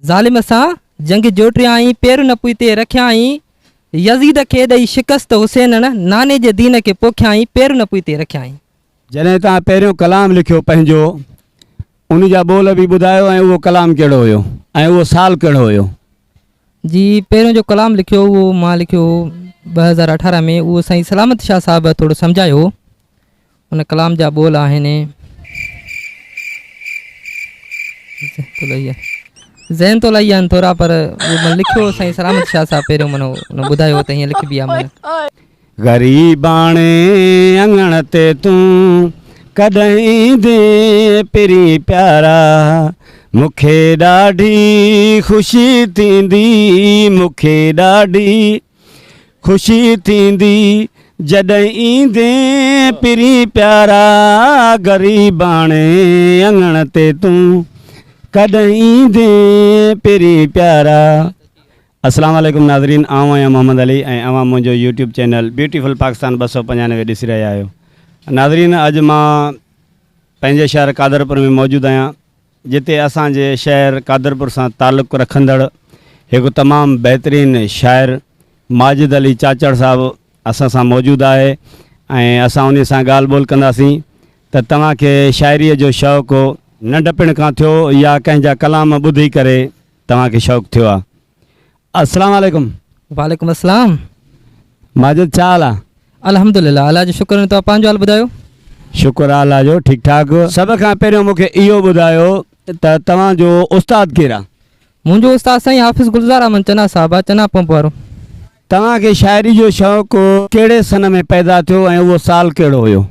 ظالم سان جنگ جوٽيائين، پير نه پوئتي رکيائين، يزيد کي ڏئي شڪست حسينڻ، ناني جي دين کي پوکيائين، پير نه پوئتي رکيائين. جڏهن توهان پهريون ڪلام لکيو پنهنجو، ان جا ٻول به ٻڌايو ۽ اهو ڪلام ڪهڙو هيو ۽ اهو سال ڪهڙو هيو؟ جي پهريون جو ڪلام لکيو اهو مان لکيو هو ٻه هزار اٺارهن ۾ اهو سائين سلامت شاهه صاحب ٿورو سمجهايو هو. ان ڪلام جا ٻول آهن. ذهن تو لهي آهن ٿورا پر من لکيو سائين سلامت شاهه صاحب پهريون منو ان ٻڌايو ته هيئن لکبي آهي من. غريباڻي اڱڻ تي تون ڪڏهن ايندين پرين پيارا مون کي ڏاڍي خوشي ٿيندي مون کي ڏاڍي. خوشي ٿيندي جڏهن ايندين پرين پيارا غريباڻي اڱڻ تي تون ڪڏهن ايندين پرين پيارا السلام عليڪم ناظرين آئون آهيان محمد علي ۽ اوهان منهنجو يوٽيوب چينل بيوٽيفل پاڪستان ٻه سؤ پنجانوي ڏسي رهيا آهيو ناظرين اڄ مان پنهنجي شهر قادرپور ۾ موجود آهيان جتي اسان جي شهر قادرپور سان تعلق رکندڙ هڪ تمام بهترين شاعر ماجد علي چاچڙ صاحب اسان سان موجود آهي ۽ اسان انهي سان ڳالهه ٻولهه ڪنداسين ته توهان کي شاعريء جو شوق ننڍپڻ کان ٿيو يا ڪنهن جا ڪلام ٻڌي ڪري توهان کي شوق ٿيو آهي؟ السلام عليڪم. وعليڪم السلام. ماجد ڇا حال آ. الحمد لله الله جو شڪر ۽ توهان پنهنجو حال ٻڌايو. شڪر آ الله جو ٺيڪ ٺاڪ. سڀ کان پهريون مون کي اهو ٻڌايو ته توهان جو استاد ڪير آ. منهنجو استاد سائين حافظ گلزار احمد چنا صاحب آ چنا پمپ وارو. توهان کي شاعري جو شوق ڪهڙي سن ۾ پيدا ٿيو ۽ اهو سال ڪهڙو هيو.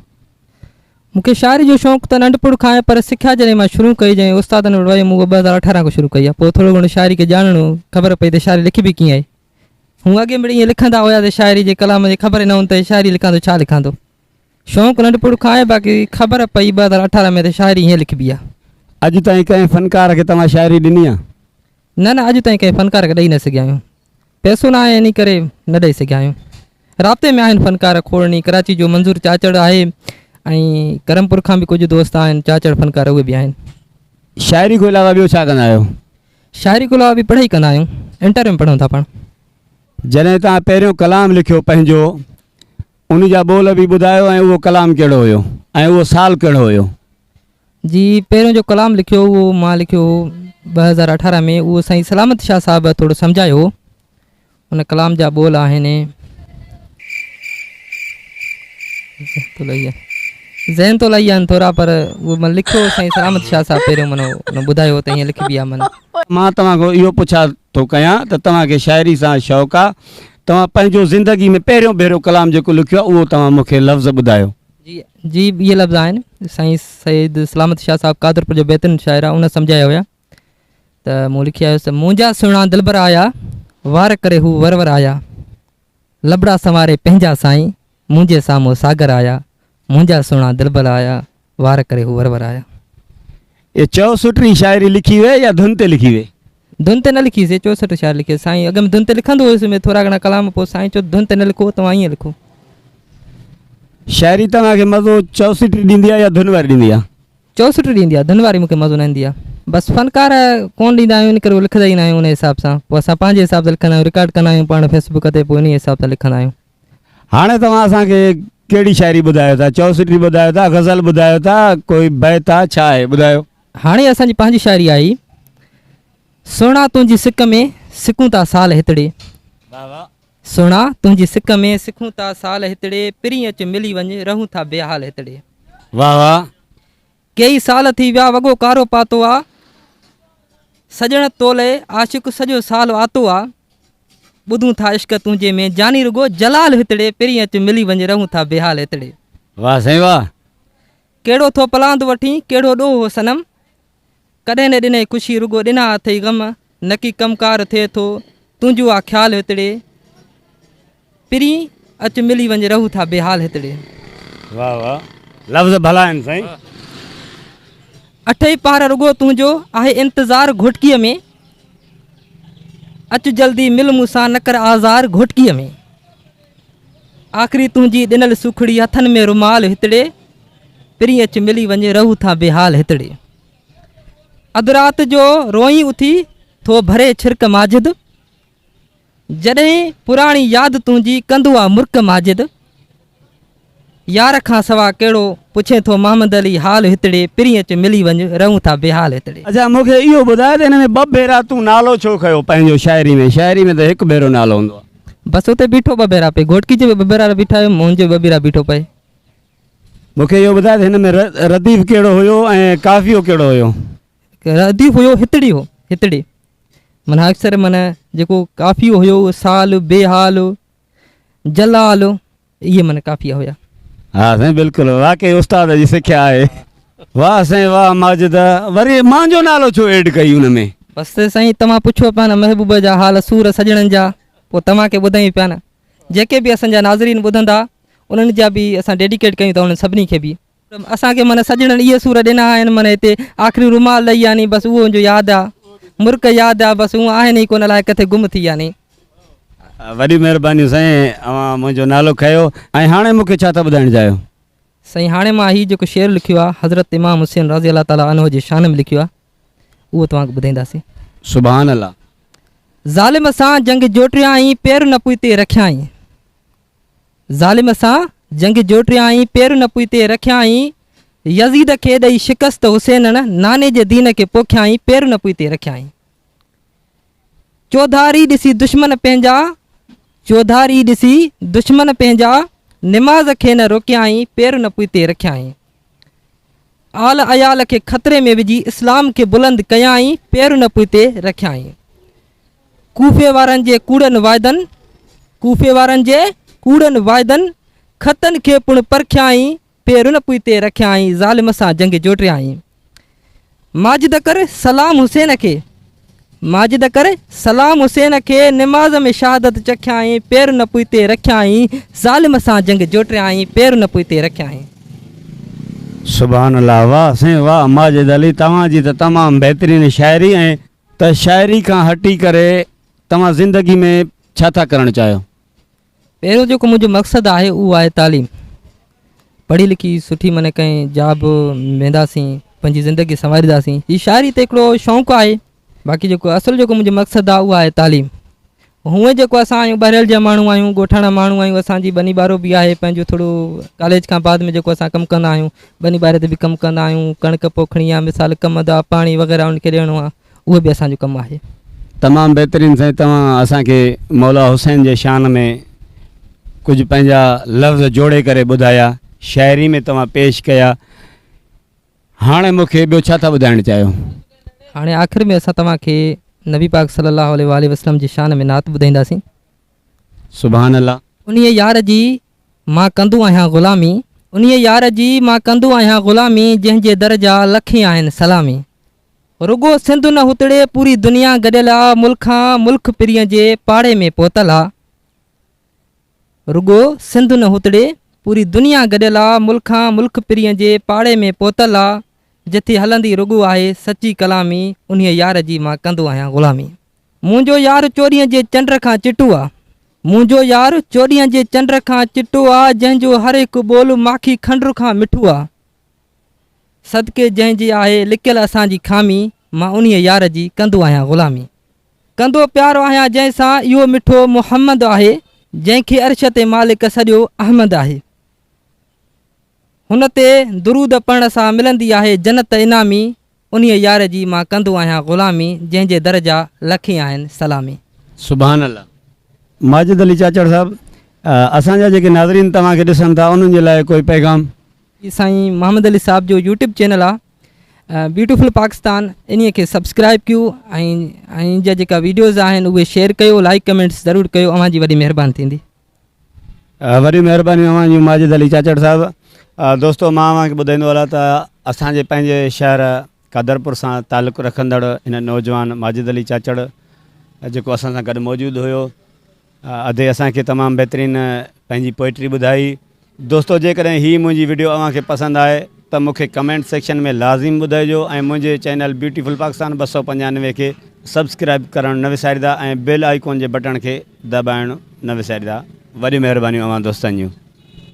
مون کي شاعري جو شوق ته ننڍپڻ کان آهي پر سکيا جڏهن مان شروع ڪئي جنهن استادن وٽ ويم اهو ٻه هزار اٺارهن کان شروع ڪئي آهي پوء ٿورو گهڻو شاعري کي ڄاڻڻو خبر پئي ته شاعري لکبي ڪيئن آهي هونء اڳي مڙئي ائين لکندا هيا ته شاعري جي ڪلام جي خبر ئي نه هوندي ته شاعري لکان ته ڇا لکان ٿو شوق ننڍپڻ کان آهي باقي خبر پئي ٻه هزار اٺارهن ۾ ته شاعري هيئن لکبي آهي. اڄ تائين ڪنهن فنڪار کي توهان شاعري ڏني آهي؟ نه نه اڄ تائين ڪنهن فنڪار کي ڏئي نه سگهيا آهيون. پئسو نه آهي انهي ڪري نه ڏئي سگهيا آهيون. رابطي ۾ آهن فنڪار کوڙني ڪراچي جو منظور چاچڙ آهي ۽ ڪرمپور کان به ڪجهه دوست آهن چاچڙ فنڪار اهي به آهن. شاعري کان علاوه ٻيو ڇا ڪندا آهيو؟ شاعري کان علاوه به پڙهائي ڪندا آهيون انٽر ۾ پڙهون ٿا پاڻ. جڏهن توهان پهريون ڪلام لکيو پنهنجو ان جا ٻول به ٻڌايو ۽ اهو ڪلام ڪهڙو هيو ۽ اهو سال ڪهڙو هيو؟ جي پهريون جو ڪلام لکيو هو اهو مان لکيو هو ٻه هزار اٺارهن ۾ اهو سائين سلامت شاهه صاحب ٿورو سمجهايو هو ان ڪلام جا ٻول آهن ذهن تو لائي آهن ٿورا پر اهو من لکيو هو سائين سلامت شاهه صاحب پهريون من ان ٻڌايو ته هيئن لکبي آهي من مان توهان کان اهو پڇا ٿو ڪيان ته توهان کي شاعري سان شوق آهي توهان پنهنجو زندگي ۾ پهريون ڀيرو ڪلام جيڪو لکيو آهي اهو توهان مون کي لفظ ٻڌايو جي جي اهي لفظ آهن سائين سيد سلامت شاهه صاحب قادرپور جي بيتن شاعره ان سمجهايا هيا ته مون لکي آيس ته منهنجا سهڻا دلبر آيا وار ڪري هو ور ور آيا لبڙا سنواري پنهنجا سائين منهنجي سامهون ساگر آيا منهنجا سهڻا دلبر آيا وار ڪري هو ور ور آيا. اهي چئو سٽري شاعري لکي ويئي يا ڌن تي لکي ويئي؟ ڌن تي نه لکي سي چوسٺ شعر لکي سائين اڳ ۾ ڌن تي لکندو هيس ۾ ٿورا گهڻا ڪلام پوء سائين چيو ڌن تي نه لکو توهان ائين لکو. شاعري توهان کي مزو چوسٽ ڏيندي آ يا ڌن واري ڏيندي آ؟ چوسٽ ڏيندي آ ڌن واري مون کي مزو نه ايندي آ بس فنڪار ڪون ڏيندا آهيون ان ڪري هو لکندا ئي نه آهيون انهي حساب سان پوء اسان پنهنجي حساب سان لکندا آهيون رڪارڊ ڪندا آهيون پاڻ فيسبوڪ تي پوء انهي حساب سان لکندا آهيون. هاڻي توهان اسان کي ڪهڙي شاعري ٻڌايو ٿا چوسٽي ٻڌايو ٿا غزل ٻڌايو ٿا ڪوئي بيت آ ڇا آهي ٻڌايو. هاڻي اسان جي پنهنجي شاعري آئي سهڻا تنهنجي سڪ ۾ سڪون ٿا سال هتڙي واهه واهه. سهڻا تنهنجي سڪ ۾ سڪون ٿا سال هتڙي پرين اچ ملي وڃ رهون ٿا بي حال هتڙي. واهه واهه. ڪيئي سال ٿي ويا وڳو ڪارو پاتو آ سڄڻ تولئي عاشق سڄو سال آتو آ ٻڌون ٿا عشق تنهنجي ۾ جاني رڳو جلال هتڙي پرين اچ ملي وڃ رهون ٿا بيحال هتڙي. واھ سائين واھ. ڪهڙو ٿو پلاند وٺين ڪهڙو ڏوھ هو صنم. ڪڏهن نه ڏنئي ڪشي رڳو ڏنا اٿئي غم نڪي ڪم ڪار ٿئي ٿو تنهنجو آ خيال هتڙي پرين اچ ملي وڃ رهو ٿا بي حال هتڙي. واھ واھ لفظ ڀلا آهن سائين. اٺئي پهر رڳو تنهنجو آهي انتظار گهوٽڪي ۾ اچ جلدي مل مون سان نه ڪر آزار گهوٽڪي ۾ آخري تنهنجي ڏنل سوکڙي هٿن ۾ رومال هتڙي پرين اچ ملي وڃ رهو ٿا بي حال هتڙي. اڌ رات جو روئين اٿي ٿو ڀري ڇرڪ ماجد جڏهن پراڻي ياد تنهنجي ڪندو آ مرڪ ماجد يار کان سوا ڪهڙو پڇين ٿو محمد علي حال هتڙي پرين اچ ملي وڃ رهون ٿا بيحال هتڙي. اڇا مون کي اهو ٻڌاء ته هن ۾ ٻه ڀيرا تون نالو ڇو کنيو پنهنجو شاعري ۾ شاعري ۾ ته هڪ ڀيرو نالو هوندو آ. بس اتي بيٺو ٻه ڀيرا پئي گهوٽڪي جي ٻه ڀيرا بيٺا آهيون منهنجو ٻه ڀيرا بيٺو پئي مون کي اهو ٻڌاء ته هن ۾ رديف ڪهڙو هيو ۽ قافيو ڪهڙو هيو؟ رديف هيو هتڙي هو هتڙي معنيٰ اڪثر معنيٰ جيڪو قافيو هيو سال بي حال جلال اهي معنيٰ قافيا هيا ها سائين بلڪل واقعي استاد جي سکيا آهي واهه سائين واهه ماجد وري مان جو نالو ڇو ايڊ ڪئي ان ۾ بس سائين توهان پڇو پيا نه محبوب جا حال سور سڄڻن جا پوء توهان کي ٻڌايون پيا نه جيڪي به اسان جا ناظرين ٻڌندا انهن جا به اسان ڊيڊيڪيٽ ڪيون ٿا انهن سڀني کي به. اسان کي معنيٰ سڄڻن اهي سور ڏنا آهن معنيٰ هتي آخري رومال لئي يعني بس اهو جو ياد آ مرڪ ياد آ بس هون آهن ئي ڪونه الاهي ڪٿي گم ٿي يعني. وڏيون مهربانيون سائين اوهان منهنجو نالو کنيو ۽ هاڻي مون کي ڇا ٿا ٻڌائڻ چاهيو؟ سائين هاڻي مان هي جيڪو شعر لکيو آ حضرت امام حسين رضي الله تعالٰي عنه جي شان ۾ لکيو آ اهو توهان کي ٻڌائينداسين. سبحان الله. ظالم سان جنگ جوٽيائين پير نه پوئتي رکيائين ظالم سان جنگ جوٽيائين پير نه پوئتي رکيائين يزيد کي ڏئي شڪست حسينڻ ناني جي دين کي پوکيائين پير نه پوئتي رکيائين. چوڌاري ڏسي دشمن پنهنجا، چوڌاري ڏسي دشمن پنهنجا، نماز کي نه روڪيائين، پير نه پوئتي رکيائين. آل عيال کي خطري ۾ وجهي اسلام کي بلند ڪيائين، پير نه پوئتي رکيائين. ڪوفي وارن جي ڪوڙن واعدن، ڪوفي وارن جي ڪوڙن واعدن، خطن کي پڻ پرکيائين، پير ان پوئتي رکيائين، ظالم سان جنگ جوٽيائين. ماجد ڪر سلام حسين کي، ماجد ڪر سلام حسين کي، نماز ۾ شهادت چکيائين، پير ان پوئتي رکيائين، ظالم سان جنگ جوٽيائين، پير ان پوئتي رکيائين. سبحان الله واه سائين واه ماجد علي توهان جي ته تمام بهترين شاعري ۽ ته شاعري کان هٽي ڪري توهان زندگي ۾ ڇا ٿا ڪرڻ چاهيو. پهريون جيڪو منهنجو مقصد آهي اهو آهي تعليم پڙهي لکي سٺي مني ڪنهن جا به وينداسين پنهنجي زندگي سنوارينداسين هي شاعري ته هڪڙو شوق آهي باقي جيڪو اصل جيڪو منهنجو مقصد آهي اهو آهي تعليم هونئن جيڪو اسان آهيون ٻهريل جا ماڻهو آهيون ڳوٺاڻا ماڻهو آهيون اسانجي ٻني ٻارو به آهي پنهنجو ٿورو ڪاليج کان بعد ۾ جيڪو اسان ڪم ڪندا آهيون ٻني ٻاري تي به ڪم ڪندا آهيون ڪڻڪ پوکڻي آهي مثال ڪم دا پاڻي وغيره ان کي ڏيڻو آهي اهو به اسان جو ڪم آهي. تمام بهترين سائين توهان اسان کي مولا حسين جي شان ۾ ڪجهه پنهنجا لفظ جوڙي ڪري ٻڌايا شاعري ۾ توهان پيش ڪيا هاڻي مون کي ٻيو ڇا ٿا ٻڌائڻ چاهيو. هاڻي آخر ۾ اسان توهان کي نبي پاڪ صلي الله عليه واٰله وسلم جي شان ۾ نعت ٻڌائينداسين. سبحان الله. انهيء يار جي مان ڪندو آهيان غلامي. انهيء يار جي مان ڪندو آهيان غلامي جنهن جي در جا لکين آهن سلامي. رڳو سنڌ نه هتڙي پوري دنيا گڏيل آ ملڪ کان ملڪ پرين جي پاڙي ۾ پهتل آ رڳو سنڌ نه هتڙي پوري دنيا گڏيل آ ملڪ کان ملڪ پرين جي پاڙي ۾ پهتل آ جٿي هلندي رڳو آهي سچي ڪلامي انهي يار جي مان ڪندو آهيان غلامي منهنجو يار چوڏهين جي چنڊ کان چٽو آ منهنجو يار چوڏهين جي چنڊ کان چٽو آ جنهن جو هر هڪ ٻول ماکي کنڊر کان مٺو آ صدقي جنهن جي آهي لڪيل اسان جي خامي مان انهيء يار جي ڪندو آهيان غلامي ڪندو پيار آهيان جنهن سان اهو مٺو محمد آهي جنهن کي عرش تي مالڪ سڏيو احمد آهي هن تي درود پڙهڻ سان ملندي آهي جنت انعامي انهيء يار جي مان ڪندو آهيان غلامي جنهن جي در جا لکين آهن سلامي. سبحان الله ماجد علي چاچڙ صاحب اسان جا جيڪي ناظرين توهان کي ڏسن ٿا انهن جي لاء ڪوئي پيغام. جي سائين محمد علي صاحب جو يوٽيوب چينل آ بيوٽيفل پاڪستان انهي کي سبسڪرائب ڪيو ۽ انهن جا جيڪا ويڊيوز آهن اهي شيئر ڪيو لائڪ ڪمينٽس ضرور ڪيو اوهان جي وڏي مهربان ٿيندي. وڏي مهرباني اوهان جي ماجد علي چاچڙ صاحب دوستو مان اوهان کي ٻڌائيندو هلان ته اسان جي پنهنجي شهر قادرپور سان تعلق رکندڙ هن نوجوان ماجد علي چاچڙ جيڪو اسان سان گڏ موجود هيو ادي اسان کي تمام بهترين پنهنجي پوئٽري ٻڌائي دوستو جيڪڏهن هي منهنجي وڊيو اوهان کي پسند آهي ته مون کي ڪمينٽ سيڪشن ۾ لازم ٻڌائجو ۽ منهنجي چينل بيوٽيفل پاڪستان ٻه سؤ پنجانوي کي سبسڪرائب ڪرڻ نه وساريدا ۽ بيل آئيڪون جي بٽڻ کي دٻائڻ نه وساريدا وڏيون مهربانيون اوهان دوستن جون.